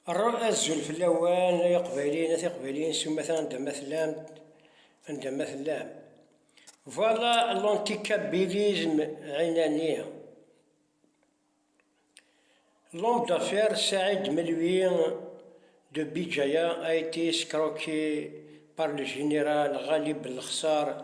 Rra azul fell-awen ay iqbayliyen a tiqbayliyin s umata anda ma tellam anda ma tellam. Voilà l'anticabilisme ɛinani. L'homme d'affaires Saïd Melwi de Bidjaya a été escroqué par le général Ghalib Belkhsar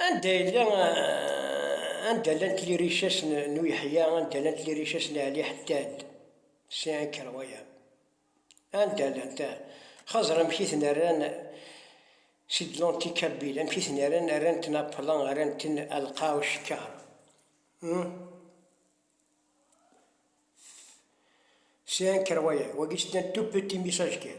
Anda yella, anda llant lirichess n Uyeḥya, anda llant lirichess n Ɛli Ḥeddad, c'est incroyable, anda llant, ah, xaẓer amek i ten rran, c'est de l'anti kabyle, amek i ten rran, rran-ten à plan, rran-ten à lqaɛ ucekkar, hum, c'est incroyable, wagi c'est un tout petit message kan.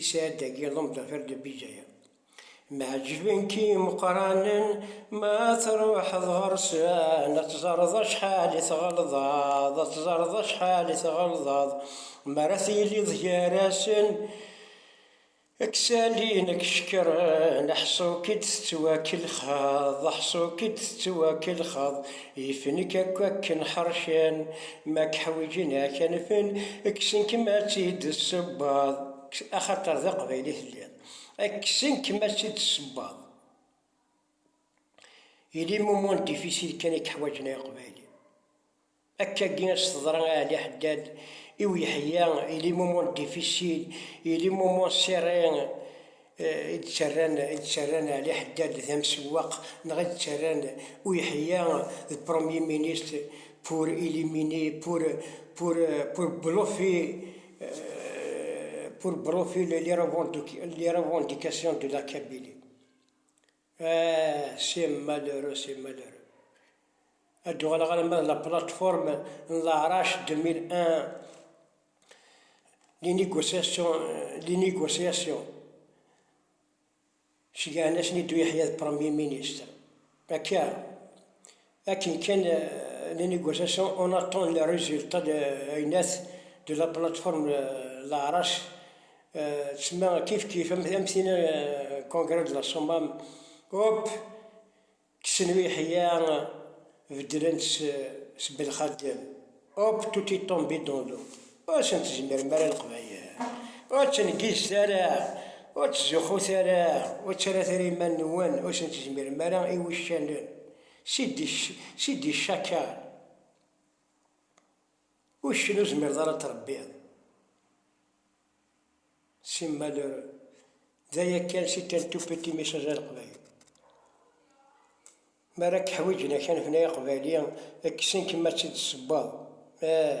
Isɛad agi d amdafer de Bijaya. Mɛeǧben-k imeqqranen ma truḥeḍ ɣer-sen, ad tẓereḍ acḥal i tɣelḍeḍ, ad tẓereḍ acḥal i tɣelḍeḍ mi ara tiliḍ gar-asen, ad k-salin, ad k-cekkren, aḥṣu-k i d-tettwakelxeḍ, aḥṣu-k i d-tettwakelxeḍ. Yifen-ik akk akken ḥercen. Ma k-ḥwiǧen a k-anfen. Kksen-kem ad tt-id-tessewweḍ. Axaṭer d aqbayli telliḍ. Kksen-kem ad tt-id-tessewweḍ. Il est moment difficile kan i k-ḥwaǧen ay aqbayli. Akkagi as teḍra i Ɛli Ḥeddad, i Uyeḥya, il est moment difficile, il est moment serré, i d-ttarran Ɛli Ḥeddad d amsewwaq neɣ i d-ttarran Uyeḥya d Premier Ministre pour éliminer, pour, pour, pour bluffer, pour bluffer les revendications de la Kabylie. Ah, si malheureux, si malheureux. Ad d-uɣaleɣ alamma d la plateforme n leɛrac 2001, les négociations, les négociations. Cegɛen-asen i Ddu Yeḥya d Premier Ministre. Akka. Akken kan llan igersasen, on attend les résultats de l'AINET, de la plateforme Leɛrac, tsemma kifkif am tin Congrès de la Somme, hop, kksen uyeḥya, beddlen-t s Belxaddem, hop, tout est tombé dans l'eau. Ur asen-tezmirem ara Leqbayel, ur ttengizet ara, ur ttzuxxut ara, ur ttarrat ara iman-nwen, ur asen-tezmirem ara i wuccanen. Sidi Cakar, uccen ur zmireḍ ara ad trebbiḍ, simmal d aya kan, c'est un tout petit message à Leqbayel. Mi ara k-ḥwiǧen akanef-nni aqbayli, kksen-kem ad tt-id-tessewweḍ. Ah!